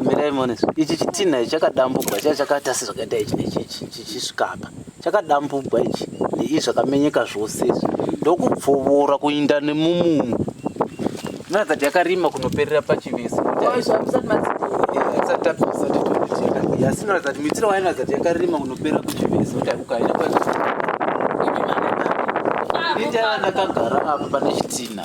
mirai muone ichi chitinha ichi chakadambugwa chaiva chakaita sezvakaita ichi nechichi chichisvikapa chakadambugwa ichi neizvi zvakamenyeka zvose izvi ndokupfuvura kuinda nemumumu noratidza kuti yakarima kunoperera pachivisi asi noratidza kuti mitiro wainoratidza kuti yakarima kunoperera kuchivisi kuti akukaina kwaii ndakagara apa pane chitinha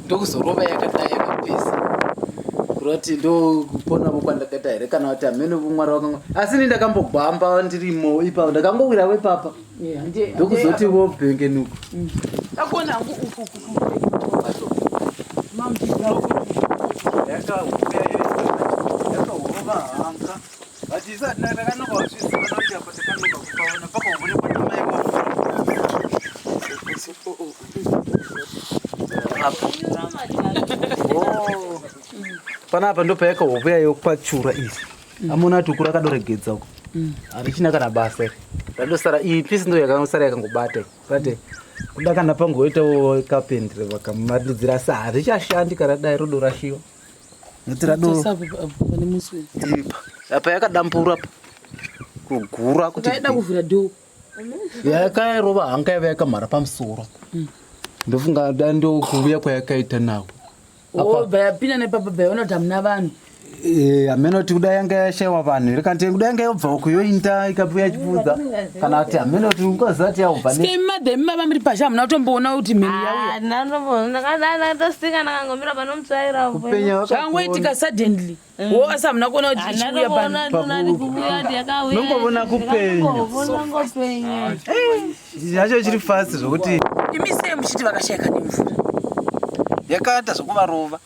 ndokuzorova yakadai yakapesa kurati ndokupona vo kwandakaita here kana kuti hamene vumwari wakanga asi ni ndakambogwamba ndirimo ipapo ndakangowira vepapa ndokuzoti vo bhengenuko mm. akona hangu uku kukuaomamuiaoyakaoyakaoa panapa ndo payaka hope yayo kwachura izi amona ati ukura akadoregedza uko mm. harichina kana basa iri randosara iyi pisi ndo yakanosara yakangobata bate kuda kana pangoitawo kapendere vakamaridzira sa harichashandi kana dai rodo rashiwa Notira doro. Sasa apo apo pane musi uyu. Iripa. Apa yakadambura apa. Kugura kuti. Kaida kuvhura door. Yakarova hanga yave yakamhara pamusoro. Ndofunga da ndokuvuya kwayakaita nawo. Oh, bayapinda nepapa bayaona kuti hamuna vanhu. Eh, ameno kuti kuda yanga yashaiwa vanhu here kanti kuda yanga yobva uko yoinda ikabuya chipfuza. Vanenge kana kuti hameno kuti ukaziva kuti yaubva skemadhemi baba muri pazha hamuna kutomboona kuti mheni yauyaangoitika ah, suddenly mm. wo asi hamuna kuona kuti ichiuya panongovona kupenyacho chiri fasi zvokuti imi sei muchiti vakashayika nemvura yakaita zvokuvarova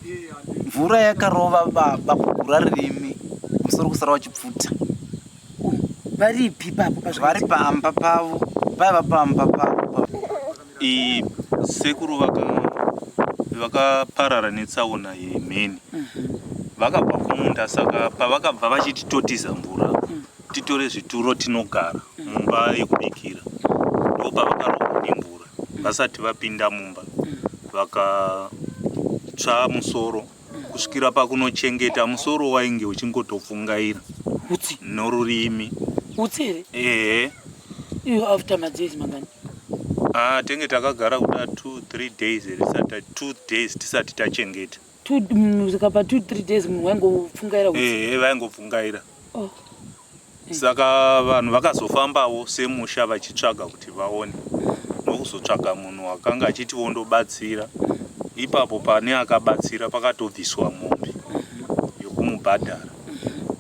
mvura yakarova baba kugura ririmi musoro kusara wachipfuta varipi ipapo vari pamba pavo vaiva pamba pavo sekuru vakaparara netsaona yemheni mhm. vakabva kumunda saka pavakabva vachiti totiza mvura mhm. titore zvituro tinogara mhm. mumba yekubikira ndopavakarova nemvura vasati vapinda mumba vakatsva musoro kusvikira pakunochengeta musoro wainge uchingotopfungaira utsi norurimi utsi here ehe iyo after madzezi mangani ah tenge takagara kuda 2 3 days risati 2 days tisati tachengeta zvikapa 2 3 days munhu waingopfungaira ehe vaingopfungaira oh. saka vanhu vakazofambawo semusha vachitsvaga kuti vaone ndokuzotsvaga munhu akanga achiti wondobatsira ipapo pane akabatsira pakatobviswa mombe yokumubhadhara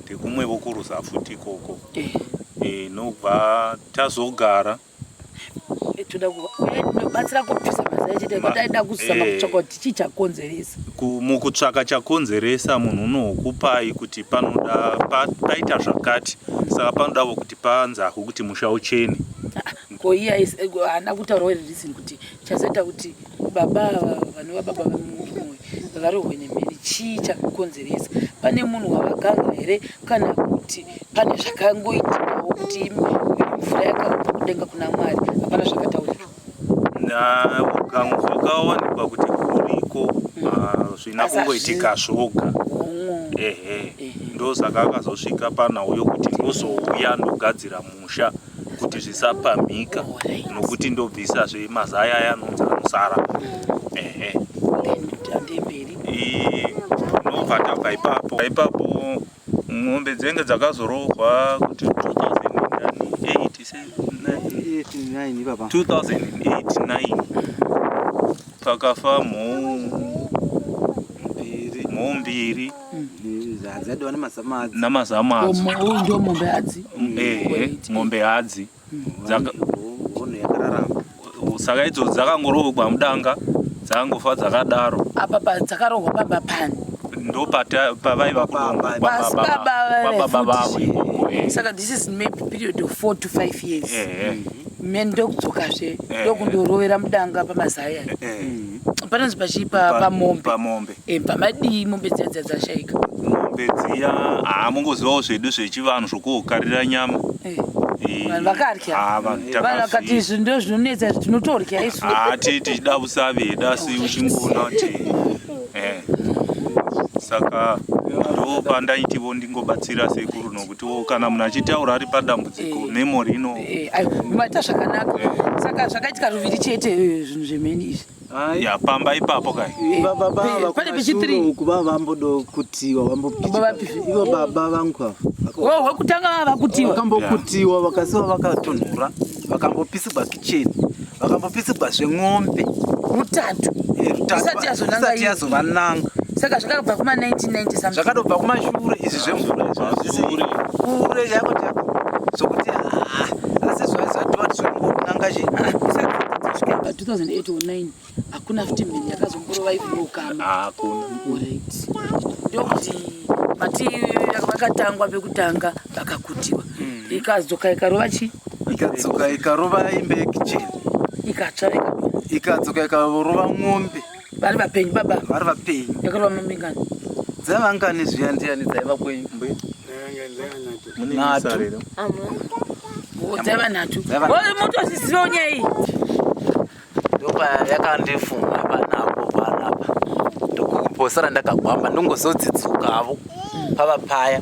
tekumwe vokuruza futi ikoko e, nobva tazogara toda kubatsira kubvisa mazai chete kuti aida kuzama eh. kutsvaka kuti chii chakonzeresa mukutsvaka chakonzeresa munhu unokupai kuti panoda paita zvakati saka panodavo kuti panzahwe kuti musha uchene ah, ko iye haana kutaura wereason kuti Chazoita kuti baba ava vanova baba vemurume uyu varohwe nemheni chii chakakonzeresa? Pane munhu wavakanga here kana kuti pane zvakangoitikawo kuti mvura yakabva kudenga kuna Mwari? Hapana zvakataurika. Nakangu zvakawanikwa kuti kuriko mm. ah, zvina kungoitika zvoga ehe ndosaka akazosvika panhau yokuti ndozouya ndogadzira musha kuti zvisapamhika nokuti ndobvisa zve mazaya aya anonzi anosara ehe tinobva tabva ipapo ipapo mombe dzenge dzakazorohwa kuti 2008 pakafa mhou mhou mbiri namazamu adzo mombe hadzi mombe hadzi saka idzo dzakangoroogwa mudanga dzakangofa dzakadaro apa padzakarohwa baba pani ndo pavaiva saka this is maybe period of four to five years mhen ndokudzokazve ndokundoroera mudanga pamazaya panonzi pachipa pamombe E, bva madii mombe dziya dziya dzashaika mombe dziya haa mongozivawo zvedu zvechivanhu zvokuokarira nyama e. vanhu vakarya ah, vanhu vakati izvi ndo zvinonetsa izvi tinotorya isu ah, ti tichida vusaveda asi uchingoona kuti eh. saka ndo pandaitivo ndingobatsira sekuru nokutiwo kana munhu achitaura ari padambudziko eh. memori ino eh, maita zvakanaka saka zvakaitika ruviri chete zvinhu zvemheni izvi ya pamba ipapo kai pane pichi 3 ukuba vambodo kutiwa vambopitiwa ivo baba vangu ava oh wakutanga vava kutiwa vakambokutiwa vakasiwa vakatonhura vakambopisigwa kicheni vakambopisigwa zveng'ombe rutatu eh, isati yazovananga saka zvakabva kuma 1990 zvakadobva kumashure izvi zvemvura izvozvisiri kure chako chako zvokuti ah, asi zvazvatiwa zvekungonanga chi ah, 2008 or 9 hakuna futi mheni yakazomborova even ukama hakuna orit ndokuti vati vakatangwa vekutanga vakakutiwa hmm. ikadzoka ikarova chi ikadzoka ikarova imbe kicheni ikatsva ikadzoka ikarova mombe vari vapenyu baba vari vapenyu yakarova mamingani dzavangani zviya ndiyani dzaiva kwenyu mbuya munenasarero dzaiva nhatu motozizivawo nyaya iyi ndopa yakandifunga panapo panapa ndokuposara ndakagwamba ndongozodzidzuka avo pava paya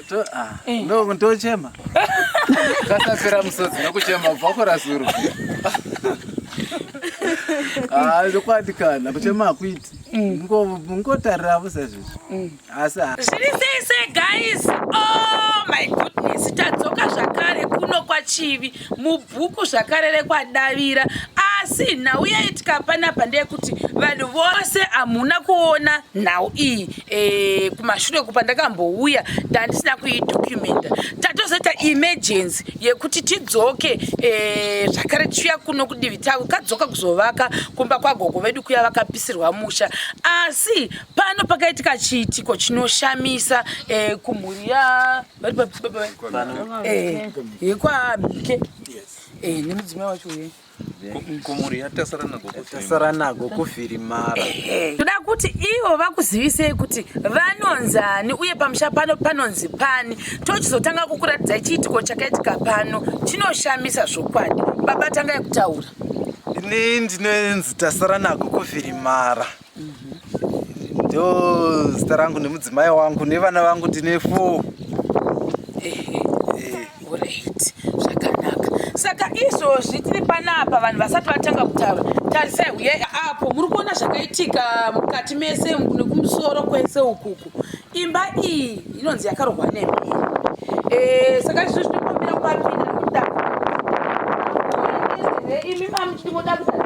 Ah, eh. ndochema kasapera musodzi nokuchema kubva kurasuru ah, zvokwadi kana kuchema hakuiti mm. ngotariravo sezvizvi mm. asi zviri sei sei guys oh my goodness tadzoka zvakare kuno kwachivi mubhuku zvakare rekwadavira asi nhau yaitika panapa ndeyekuti vanhu vose hamuna kuona nhau iyi e, kumashure kupa ndakambouya ndandisina kuidokumenta tatozoita emergency yekuti tidzoke e, zvakare tichiuya kuno kudivi tavo kadzoka kuzovaka kumba kwagogo vedu kuya vakapisirwa musha asi pano pakaitika chiitiko chinoshamisa e, kumhuri ya vari papi baba vaye Eh, yekwaabike Eh, nemudzimai wacho uye komori yatasara nago tasara nago kuvhirimara toda kuti ivo vakuzivisei kuti vanonzi ani uye pamusha pano panonzi pani tochizotanga kukuratidzai chiitiko chakaitika pano chinoshamisa zvokwadi baba tangai kutaura ini ndinonzi tasara nago kuvhirimara ndo zita rangu nemudzimai wangu nevana vangu tine four saka izvozvi tiri panapa vanhu vasati vatanga kutaura tarisai uye apo muri kuona zvakaitika mukati mese nekumusoro kwese ukuku imba iyi inonzi yakarohwa nemhiri eh, saka izvozvi tinokumbira kupapinda nekuda imi mamuchiti moda kuaa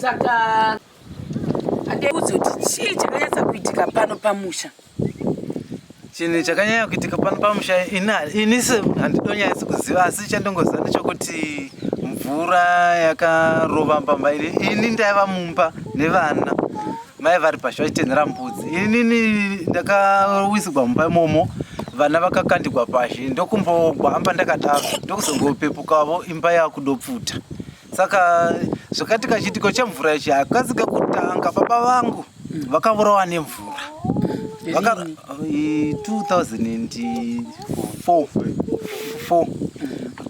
saka adeudza kuti chii chakanyatsa kuitika pano pamusha chinhu chakanyanya kuitika pano pamusha ini handidonyanyisi kuziva asi chandongoziva ndechokuti mvura yakarova mbamba ini ini ndaiva mumba nevana mai vari pasha vachitenhera mbudzi inini ndakawisigwa mumba imomo vana vakakandigwa pashi ndokumbogwamba ndakadaro ndokuzongopepukawo imba yakudopfuta saka zvakati kachiitiko chemvura ichi hakazi kekutanga baba vangu mm. vakavurawa nemvura 2004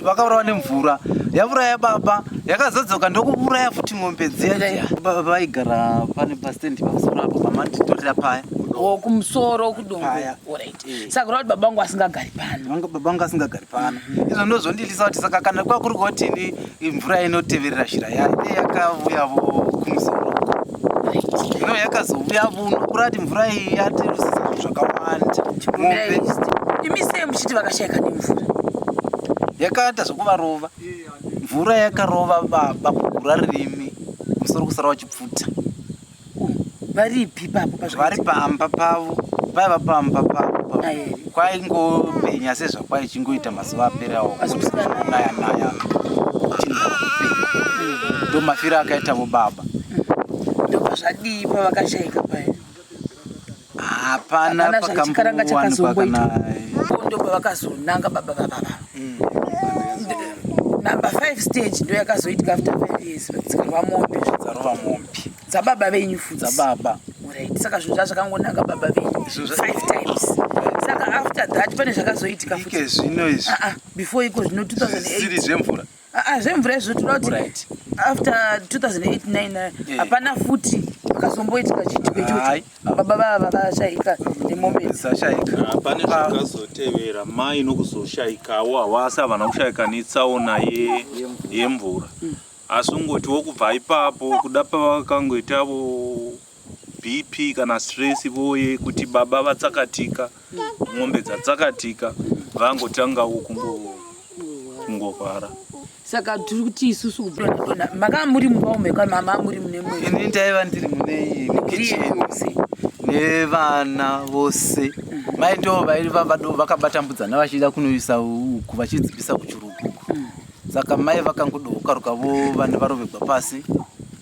vakavurawa nemvura yavura yababa yakazodzoka ndokuvuraya futi ng'ombe dziya baba vaigara pane pastendi pamusoro apo pamatitorera paya oh, kumusoro kudongopaya Eh. saka kuti baba vangu asingagari pano baba vangu asingagari pano izvo ndozvondilisa kuti saka kana kwa kuri koti mvura inoteverera shira yayo dei yakauyavo kumusoro ino yakazouya vuno kurati mvura iyi yatirusisa zvakawanda mombe imi sei muchiti vakashaika nemvura yakaita zvokuvarova mvura yakarova baba kugura ririmi musoro kusara wachipfuta varipi ipapo vari pamba pavo vaiva pamba pavo kwaingopenya sezvakwaichingoita mazuva aperawo kutinaya naya ndo mafiro akaita vo baba ndobva zvadii pavakashaika paye hapana chikaranga chakazomboitwa ndo pavakazonanga baba baba mm. number five stage ndo yakazoitika after five years dzikarwa mombe dzarova mombe dzababa venyu futi dzababa right saka zvinhu zva zvakangonanga baba venyu five times saka after that pane zvakazoitika futi zvino izvi ah, ah, before iko zvino 2008 zvemvura Ah, ah, zvemvura izvo tinoda kuti after 2008 eh. hapana futi pakazomboitika chitiko ichocho baba vava vashaika nemombe dzashaikapane zvakazotevera mai nokuzoshaikawo hawasi havana kushaika netsaona yemvura asi ungoti wokubva ipapo kuda pavakangoitavo BP kana stress voye kuti baba vatsakatika mombe dzatsakatika vangotangawo kungorwara saka tiri kuti isusu kuona makava muri mumba ume kana mama muri mune mwe ini ndaiva ndiri mune iyi mukicheni nevana vose mai ndo vaiva vakabatambudzana vachida kunoisa uku vachidzipisa kuchuruguku mm. Saka mai vakangodooka rukavo vana varovegwa pasi.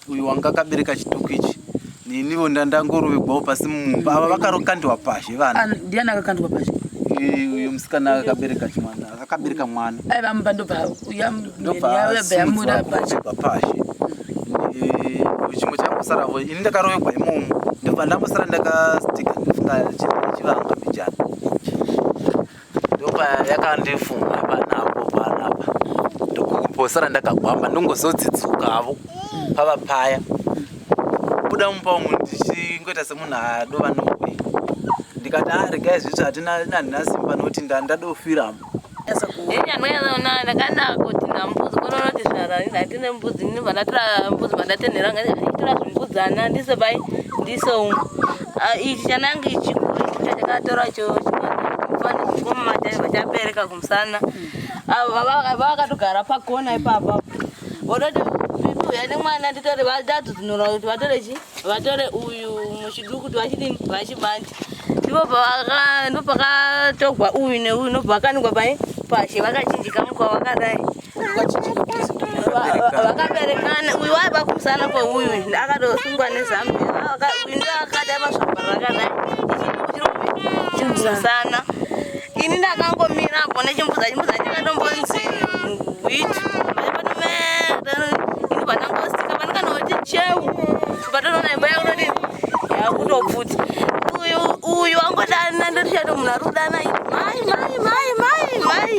Uyu wanga akabereka chituku ichi nenivo ndandangorovegwawo pasi mumba ava vakarokandwa pazhe vana. Ah, ndiani akakandwa pazhe? uyo musikana akabereka chimwana akabereka mwana aivamupa ndobva uyamndobayamudabaekwa pashe chimwe chakusaravo ini ndakarovekwa imomo ndobva ndambosara ndakastika ndifungachivanga mbijana ndopayakandifunga panapo panapa ndokuposara ndakagwamba ndongozodzidzuka avo pava paya kubuda mupa umu ndichingoita semunhu adova nobe ndikati a ah, regai zviti hatina handina simba nokuti ndandadofiramo enyanoyanakanakoti nambudzi kononoti zvaratine mbudzi ndinobva ndatora mbudzi mandatenhera ngaitorazvimbudzi ana ndise pai ndise umu Ah, ichi chanange chikuru chachakatora chomufanikomumataiva vachabereka kumusana vakatogara pakona ipapa vodoti uya nemwana nditore vatatu tinora kuti vatore chi vatore uyu muchiduku kuti vachidini vachibandi ndipo ndopakatogwa uyu neuyu ndobva vakanikwa pai pashi vakachinjika mukwa vakadai vakaberekana uyu waiva kumusana kweuyu akatosungwa nezambiaakadakuindoakadaimasvabarakanaiiimusana ini ndakangomira apo nechimbuza chimbuza chikatombonzi gwit ini panangosika panokanaoti cheu patonoona imba yakunoti yakutopfuti uyu uyu angodana ndotichato munhu ari kudana mai mai mai mai mai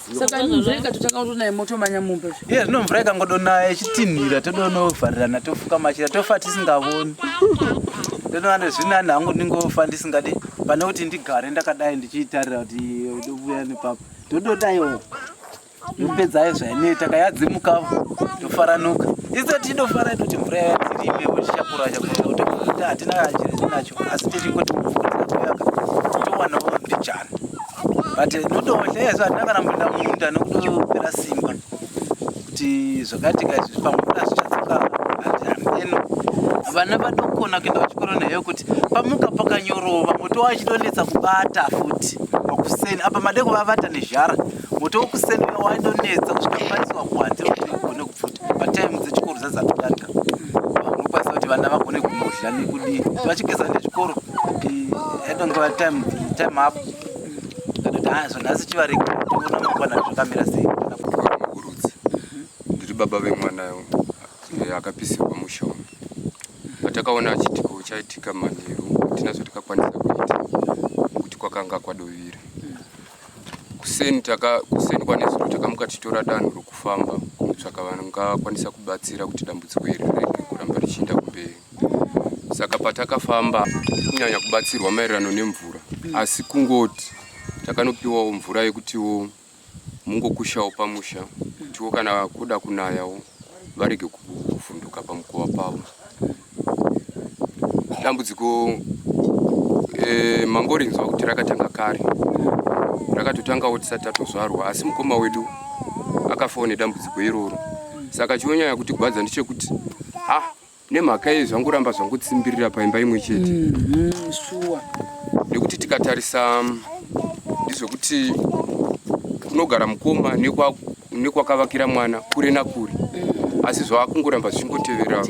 saka mvura ikatotakauto naye motomanya mumba iye zvino mvura ikangodonaya ichitinhira todonovharirana tofuka machira tofa tisingavoni ndonoana zvinani hangu ndingofa ndisingadi pane kuti ndigare ndakadai ndichiitarira kuti ndovuya nepapa ndododaiwo ndopedzayo zvaineta kayadzimuka ndofaranuka iso tindofara toti mvura yayatirime uchishakura chakura kuti hatina chiri chinacho asi tichingoti mvura dzakuyaka towanawo ndichana but ndotohleya zva handina kana munda munda nokutopera simba kuti zvakati ka izvi pamunda zvichatsoka handihameno vana vatokona kuenda kuchikoro neyo kuti pamuka pakanyorova moto wachitonetsa kubata futi makuseni apa made kuvavata nezhara moto wokuseni waidonetsa kusvika kukwanisiwa kuhanzi kuti ugone kupfuta patime dzechikoro dzadzakutanga unokwanisa kuti vana vagone kunodya nekudii vachigeza nechikoro eh, edonge vatime time apo hazvo nhasi chivariko toona mangwana zvakamira sei kurudzi ndiri baba vemwana eh, akapisirwa mushonga patakaona achitika uchaitika manheru hatina zvatikakwanisa kuita kuti kwakanga kwadovira kuseni kuseni kwanezuro takamuka tichitora danho rokufamba kunotsvaka vangakwanisa kubatsira kuti dambudziko iri rege kuramba richienda kumberi saka patakafamba kunyanya kubatsirwa maererano nemvura asi kungoti takanopiwawo mvura yekutiwo mungokushawo pamusha kutiwo kana kuda kunayawo varege kuvhunduka pamukova pavo dambudziko e, mangori nzwa kuti rakatanga kare rakatotangawo tisati tatozvarwa asi mukoma wedu akafawo nedambudziko iroro saka chionyanya kuti gwadza ndechekuti ha nemhaka yei zvangoramba zvangotsimbirira paimba imwe chete mm-hmm, shuwa nekuti tikatarisa mm, ndizvekuti kunogara mukoma nekwakavakira mwana kure nakure mm. asi zvaakungoramba zvichingotevera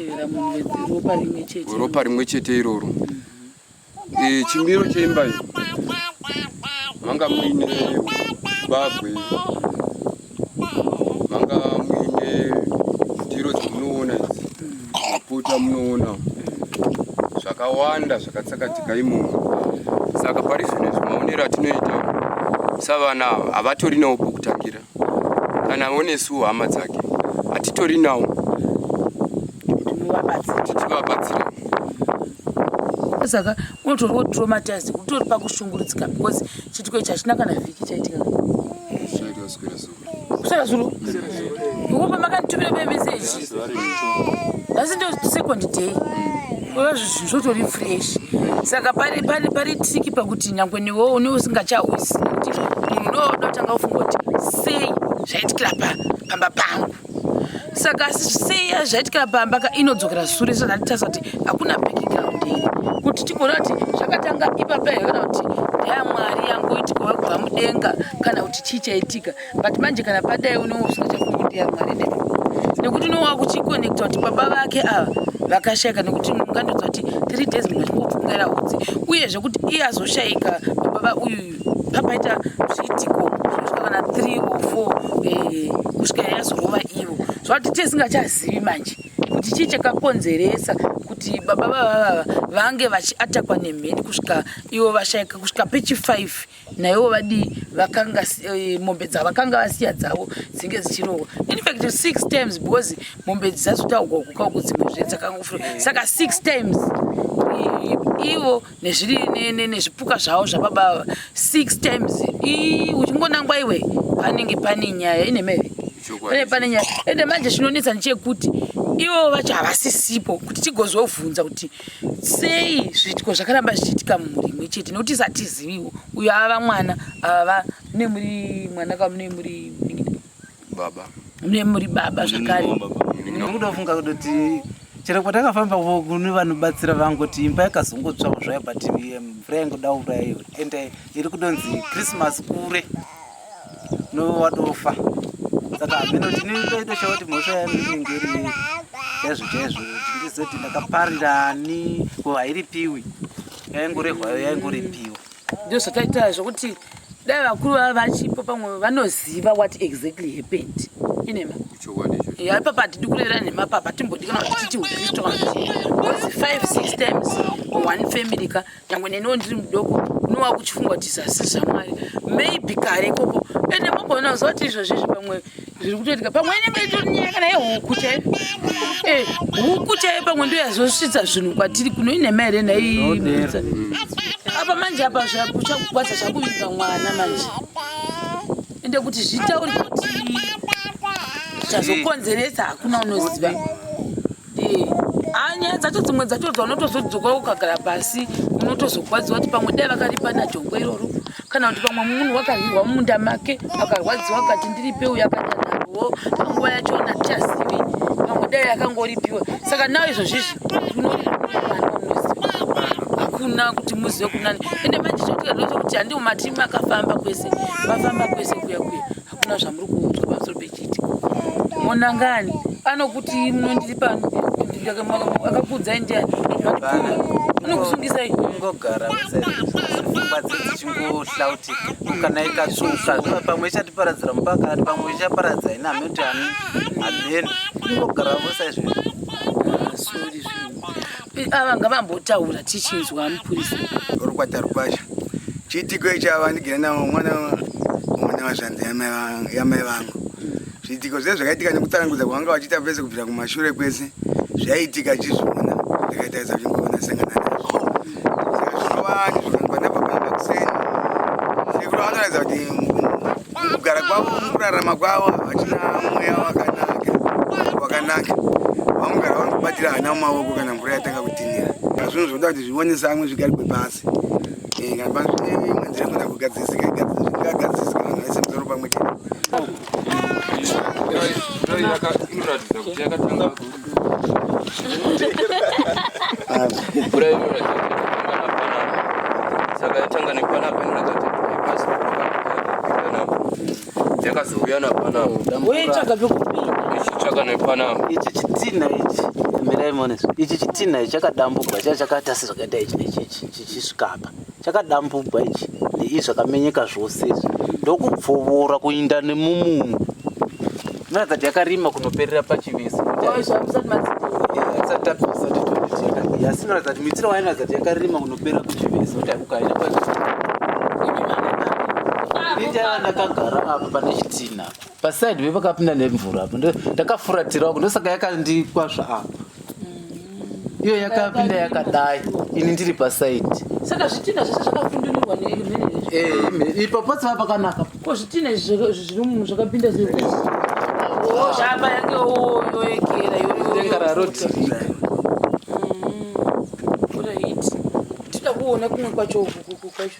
ropa rimwe chete iroro mm. E, chimiro cheimba iyi manga muine bagwe, manga muine ndiro dzamunoona idzi, maputa munoona zvakawanda zvakatsakatika imomo. Saka pari zvino izvi maonero atinoita savana havatorinawo pokutangira. kana onesuwo hama dzake hatitori nawo titivabatsire saka unotori wotraumatized kutori pakushungurudzika because chitiko ichi hachina kana vhiki chaitika kusvika zuro ngoba makanditumira memeseji asi ndo second day kuva zvinhu zvotori fresh saka pari pari pari triki pakuti nyangwe newo une usingachauzi kuti munhu ndoodotanga kufunga kuti sei zvaitikira pa pamba pangu saka sei zvaitikira pamba ka inodzokera sure sandatitasa kuti hakuna background here kuti tigona kuti zvakatanga ipapa here kana kuti ndaya mwari yangu itikova kubva mudenga kana kuti chii chaitika but manje kana padai unongo usingachafungi kuti yamwari nekuti nekuti unongo wakuchikonekta kuti baba vake ava vakashaika nekuti mungandodza kuti three days munhu achingopfungaira hudzi uye zvekuti iye azoshaika baba uyuyu papaita zviitiko zvinosvika kana three or four eh, kusvika yazorova ivo zvavati tisingachazivi manje kuti chii chakakonzeresa kuti baba vavava vange vachiatakwa nemheni kusvika ivo vashaika kusvika pechi five naiwo vadii vakanga eh, mombe dzavakanga vasiya dzavo dzinge dzichirohwa infact six times because mombe dzisazotaugwa kuka uko dzimwe zve dzakangofura saka six times ivo nezviri nezvipuka zvavo zvababa ava six times uchingonangwa iwe panenge pane nyaya ine meve pane pane nyaya ende manje chinonetsa ndechekuti ivo vacho havasisipo kuti tigozovhunza kuti sei zviitiko zvakaramba zvichiitika mumhuri imwe chete nokuti satiziviwo uyo ava mwana ava mune muri mwana ka mune muri baba mune muri baba zvakare nokuda kufunga kuti chero kwatakafamba kune vanobatsira vangoti imba yakazongotsvawo zvayo but mvura yangoda urayo ende iri kudonzi christmas kure nowatofa saka hameno ndinotoita sha kuti mhosva yanu inenge iri chaizvo chaizvo kuti ndizoti ndakaparirani ko hairipiwi yaingorehwayo yaingoripiwa ndo zvataita zvokuti dai vakuru vava vachipo pamwe vanoziva what exactly happened inema ipapa hatidi kurera nhema papa timbodikana kuti tiiti ukristu kana kuti five six times one family ka nyangwe neniwo ndiri mudoko unowa kuchifungwa kuti zasi zvamwari maybe kare ikoko ende mogona kuziva kuti izvozvizvi pamwe zviri kutoitika pamwe inenge itori nyaya kana yehuku chai eh, huku chai pamwe ndo yazosvitsa zvinhu kwatiri kuno inhema here naiidza apa manje apa zvakuchakugwadza zvakuvinga mwana manje ende kuti zvitauri kuti chazokonzeresa hakuna unoziva nyaya dzacho dzimwe dzacho dzaunotozodzoka ukagara pasi unotozokwadziwa kuti pamwe dai vakaripa najongwe iroro kana kuti pamwe munhu wakarwirwa mumunda make akarwadziwa kati ndiripe uyo akatanarwo panguva yacho natichazivi pamwe dai akangoripiwa saka nawo izvozvizvi hakuna kuti muzive kunani ende manje chokuti handimatimu akafamba kwese vafamba kwese kuya kuya hakuna zvamuri kuudzwa pamusoro pechiti monangani anokuti munondiri pano akakuudzai ndiani anokusungisai ungogara pfungwa dzichingohlautika kana ikatsuka pamwe ichatiparadzira mupakati pamwe ichaparadza ina hameno hameno ungogara vosaizvozvo ava ngavambotaura tichinzwa mupurisa rukwata rukwasha chiitiko ichi ava ndigere navo mwana mwana wazvanzi yamai vangu zviitiko zviya zvakaitika nekutsanangudza kwavanga vachiita vese kubvira kumashure kwese zvaiitika chizviona ndakaitaisa kuti mbovona sangana nazvo saka zvinova ndizvo kangwa ndabva pamba kuseni sekuru vanoratidza kuti mukugara kwavo mukurarama kwavo havachina mweya wakanaka wakanaka vamugara vari kubatira hana mumaoko kana mvura yatanga kutinira zvinhu zvoda kuti zvionese amwe zvigarigwe pasi eh, kana pasi zvine imwe nzira kuda kugadzisika igadzisika vanhu vaise musoro pamwe chete saka yatanga nepanapa inonakati yakazouya napanapa ichitsvaka nepanapa ichi chitinha ichi mirai mones ichi chitinha ichi chakadambuka chakata sezvakaita ichi nechichi chichisvikapa chakadambugwa ichi neizvi zvakamenyeka zvose izvi ndokubvovora kuinda nemumumu noratidza kuti yakarima kunoperera pachivisi asi noratidza kuti mitiro wainoratidza kuti yakarima kunoperera kuchivisi kuti akukaina ii ndakagara apa pane chitina Paside we vakapinda nemvura apo ndakafuratira uko ndosaka yakandikwazva apo. Mm. Iyo yakapinda yakadai ini ndiri paside. Saka zvitina zvese zvakafundunirwa nemene. Eh, ipo pose pakanaka. Ko zvitina zviri munhu zvakapinda zviri. Oh, zvapa yake oh yoekera yo. Denga raroti. kuona kumwe kwacho uku kwacho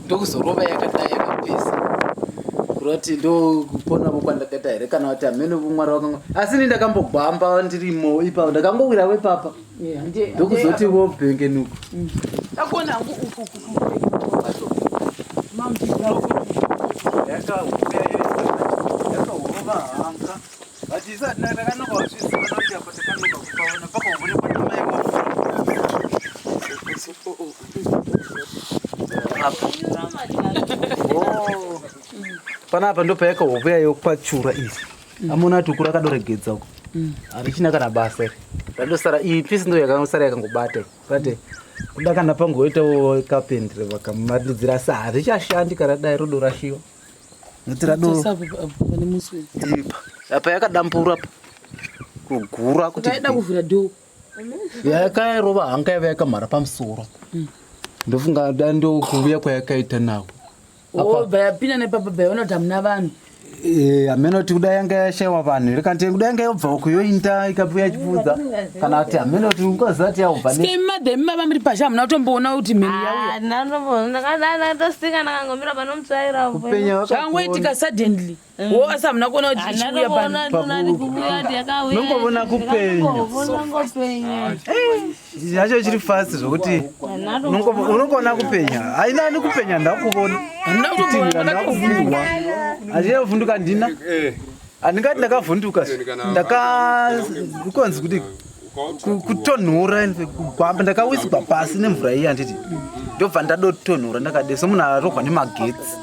ndokuzorova yakadai yakapesa kuroti ndokupona vokwandakaita here kana kuti hamene vomwari wakanga asi ni ndakambogwamba ndirimo ipapo ndakangowira wepapa ndokuzoti vo bhengenuko mm. ndakona hangu uku kukuaomamuiaoyakaoyakaorova hanga panapa ndo payaka hope yayo kwachura izi amona ati ukura akadoregedza uko harichina kana basa iri randosara iyi pisi ndo yakanosara yakangobata bate kuda kana pangoitawo kapendere vakamaridzira sa harichashandi kana dai rodo rashiwa Notira doro. Sasa apa apa pane muswe. Ipa. Apa yakadambura apa. Kugura kuti. Kaida kuvhura door. Yakairova hanga yave yakamhara pamusoro. Mm. Ndofunga da ndokuvuya kwayakaita nawo. Oh, bayapinda nepapa bayaona kuti hamuna vanhu. Eh, ameno kuti kuda yanga yashaiwa vanhu. Rikante kuda yanga yobva kuyoinda ikapuya chipfuza. Mm, kana kuti hameno kuti ukaziva kuti yaubva skemadhemi baba muri pazha hamuna kutomboona kuti mheni yauyaangoitika ah, suddenly mm. wo asi hamuna kuona kuti ichiuya panongovona kupenyacho chiri fasi zvokuti unongoona kupenya haina ani kupenya ndakuvona hamuna kutomboona ndakuvurwa hazviyevhunduka ndina eh. Handingati ndakavhunduka ndakanzi kuti kutonhora kugwamba ndakawiswa pasi nemvura iyi handiti ndobva ndadotonhora ndakade somunhu arohwa nemagetsi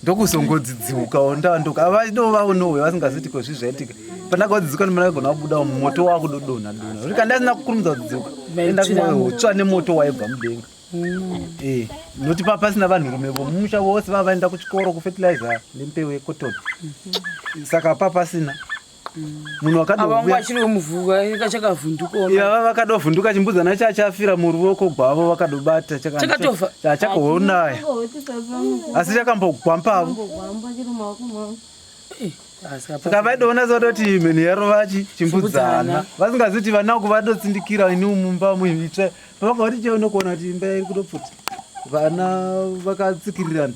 ndokuzongodzidziukawo ndavandoka vadovaonowe vasingaziti ko zvii zvaitika pandakaodzidziuka ndimandakagona kubuda moto wakudodonha dona rika ndasina kukurumidza kudziuka ndakutsva nemoto waibva mudenga Eh, noti pa pasina vanhurume vomumusha vose vava vaenda kuchikoro kufertilizer nembeu yecotton saka pa pasina munhu wakadovuyava vakadovhunduka chimbudzana cha chafira muruoko gwavo vakadobata chakatofa chakaonaya asi chakambogwa mpavo saka vaidoona zvatoti mheni yaro vachi chimbudzana vasingaziti vana uku vadotsindikira ini mumba muitsve pavanga vati chaona kuona kuti imba iri kutopfuta vana vakatsikirirana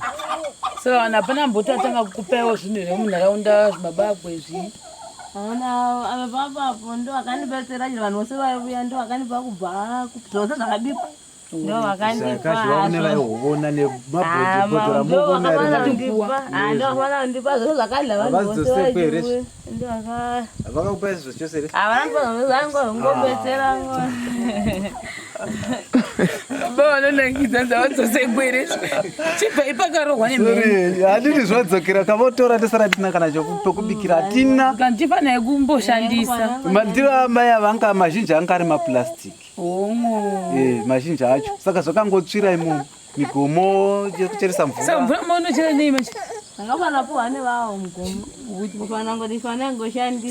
so vanhu hapana mboti atanga kukupaiwo zvinhu here munharaunda zvimabako izvi aona avapapapo ndo akandibatsira chero vanhu vose vaivuya ndo akandipa kubva zvose zvakabikwa handiti zvadzokera kavotora tisara tina kana chokubikira hatina ndifanira kumboshandisa mandiro amai avanga mazhinji anga ari maplastic Eh, mazhinji acho saka zvakangotsvira imomo migomo yekucheresa mvura maunochera nei manje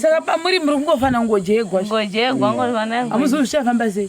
saka pamuri muri kungofanira kungojegwa amuzivi zvichafamba sei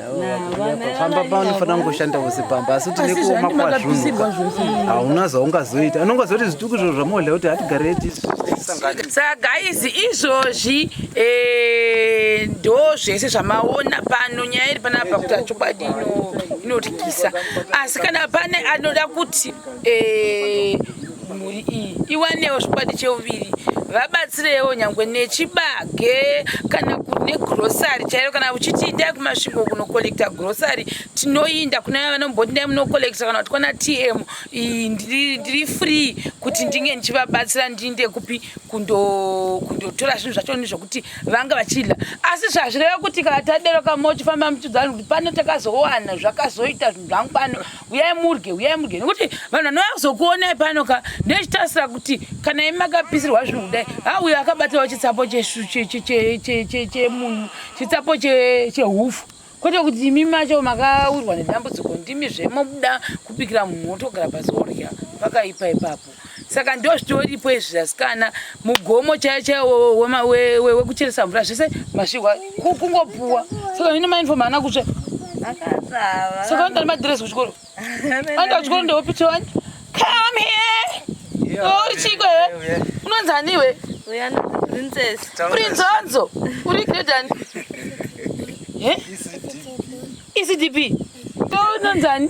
pamba panofanira kungoshanda vose pamba asi kuti nekuoma kwazvunhuka hauna zvaungazoita anongazoita zvituku izvo zvamohla kuti hatigare saka guys izvozvi eh, ndo zvese zvamaona pano nyaya iri panapa kuti achokwadi inotyisa asi kana pane anoda kuti eh, mhuri iyi iwanewo zvikwadi cheuviri vabatsirewo nyangwe nechibage kana negrosary chairo kana uchiti indai kumasvingo kunokollekta grosary tinoinda kune vaya vanomboti ndai munokollekta kana kuti kwana tm ndiri free kuti ndinge ndichivabatsira ndiinde kupi kundotora zvinhu zvacho ni zvokuti vanga vachidla asi zvazvireva kuti kana tadero kamochifamba muchiudzani kuti pano takazowana zvakazoita zvinhu zvangu pano uyai murye uyai murye nekuti vanhu vanouya kuzokuonai pano ka ndochitarisa kuti kana imi makapisirwa zvinhu kudai ha uyo akabatirawo chitsapo chemunhu chitsapo chehufu kwete kuti imi macho makawirwa nedambudziko ndimi zvemobuda kubikira munhu wotogara pasi orya pakaipa ipapo saka ndo zvitoripo izvi asikana mugomo chaiyo chaiyo wekucheresa mvura zvese masvihwa kungopuwa saka hino mainfom haana kutsva saka vanoda nemadhiresi kuchikoro vanoda kuchikoro ndewopitwa vani come here uri chiko he unonzi aniwe prince wanzo uri gredani ecdp ndounonzi ani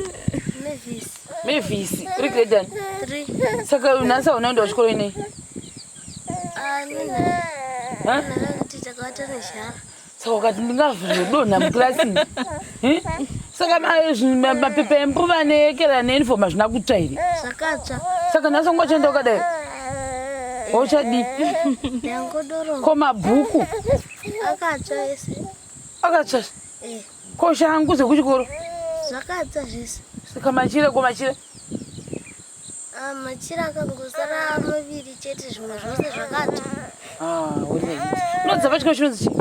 Mavis, uri grade ani? 3. Saka unasi unaenda kuchikoro inei? Ah, nina. Ha? Ndakati takawata nezhara. Saka ukati ndingazodonha mukirasi. Eh? Saka ma- zvi- ma- mapepa embuva neekera neuniform hazvina kutsva here? Zvakatsva. Saka nhasi ungochenda ukadai. Wauchadii? Ndangodoro. Ko mabhuku Akatsva ese. akatsva. Eh. Ko shangu dzekuchikoro? Zvakadza zvese. Saka machira ko machira? Ah, machira akangosara maviri chete zvimwe zvose zvakati. Ah, uri right. Unodza pachiko chinonzi chii?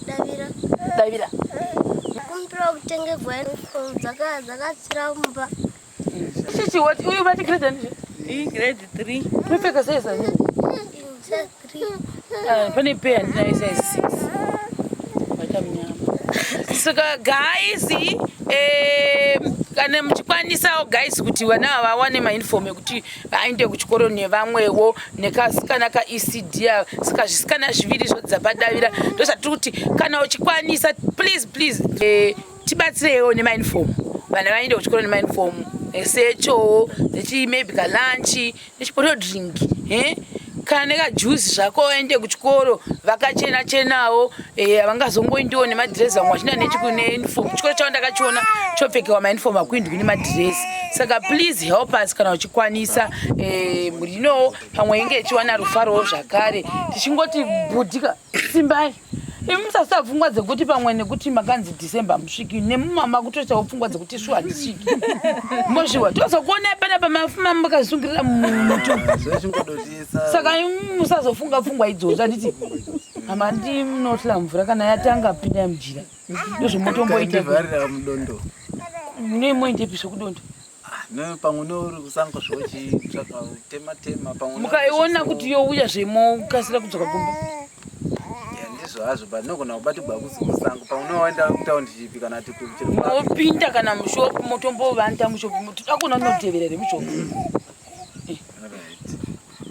Davira. Davira. Kumbira kutenge gwai dzaka dzakatsira mumba. Chichi what? Uyu vati grade ani zve? Iyi grade 3. Unopfeka size ani? Size 3. Ah, pane pair andina size 6. Vaita mnyama. Saka guys, eh kana muchikwanisawo guys kuti vana ava vawane mainform ekuti vaende kuchikoro nevamwewo nekasikana kaecd saka zvisikana zviviri zvodzapadaira ndozvatiri kuti kana uchikwanisaplese please, please. Eh, tibatsireiwo nemainform vana vaenda kuchikoro nemainform esechowo nechi maybe kalunchi nechipoto drink eh? kana nekajuzi zvako waende kuchikoro vakachena chenawo eh, havangazongoindiwo nemadhirezi vamwe vachina nechikuneuniform chikoro chavo ndakachiona chopfekewa mauniform akuindwi nemadhirezi saka please help us kana uchikwanisa eh, mhuri inowo pamwe inge ichiwana rufarowo zvakare tichingoti budika simbai imi musasita pfungwa dzekuti pamwe nekuti makanzi december musviki nemumama kutoitawo pfungwa dzekuti shuwa handisviki mozviwa tozokuonai pana pamafuma makazvisungirira mumutu saka musazofunga pfungwa idzodzo anditi mama ndi munotla mvura kana yatanga pinda mujira ndozvomotomboita nemoindepi zvekudondo Ah, pamwe nouri kusango zvochitsvaka tema tema pamwe mukaiona kuti youya zvemokasira kudzoka kumba ndizvo hazvo but nogona kubatigwa kusango pamwe unoenda kutaundi chipi kana tiopinda kana mushopu motombovanda mushopu toda kuona unoteverere mushopu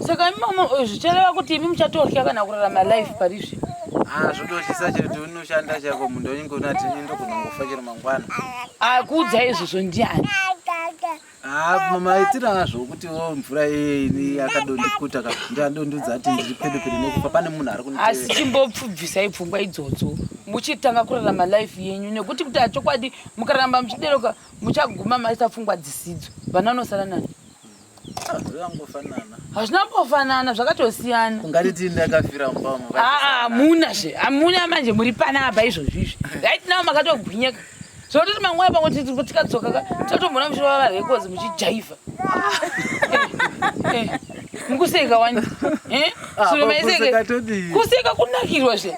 saka imama eh, zvichareva kuti imi muchatotya kana kurarama life pari zvino ah, zvototyisa chete unoshanda chako munhu unenge unati ndokunongofa chero mangwana akuudza izvozvo ndiani ah, mama itira nazvo kuti wo oh, mvura iyeni yakadondikuta ka ndadondudza ati ndiri pedo pedo nekufa pane munhu ari kunite asi chimbopfubvisai pfungwa idzodzo muchitanga kurarama life yenyu nekuti kuti achokwadi mukaramba muchideroka muchaguma maisa pfungwa dzisidzo vana unosara nani hazvina mbofanana zvakatosiyana ungatiti ndakafira mubama hamuna zve hamuna manje muri panapa izvozvi izvi right now makatogwinyeka zvinototi manguva pamwe tikadzoka ka tatombona muchirova varekozi muchijaivha mukuseka wani kuseka kunakirwa zve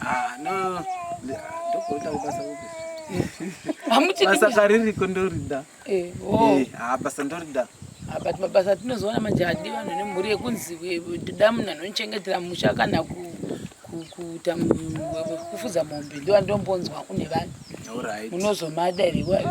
Ah, no. Ndokuita kubasa kupi? Hamuchidi Basa kaririko ndorida. Eh, oh. Eh, ah, basa ndorida. Ah, but mabasa atinozoona manje hadi vanhu nemhuri yekunzi we- we- toda munhu anochengetera musha kana ku- ku- kuita mu- we- we- kufuza mombe ndiwa ndombonzwa kune vanhu All right. munozomada here iwayo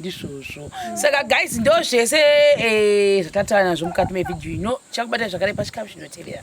ndizvozvo saka guys ndo zvese eh, zvatataura nazvo mukati mevhidhiyo ino chakubatai zvakare pachikamu chinotevera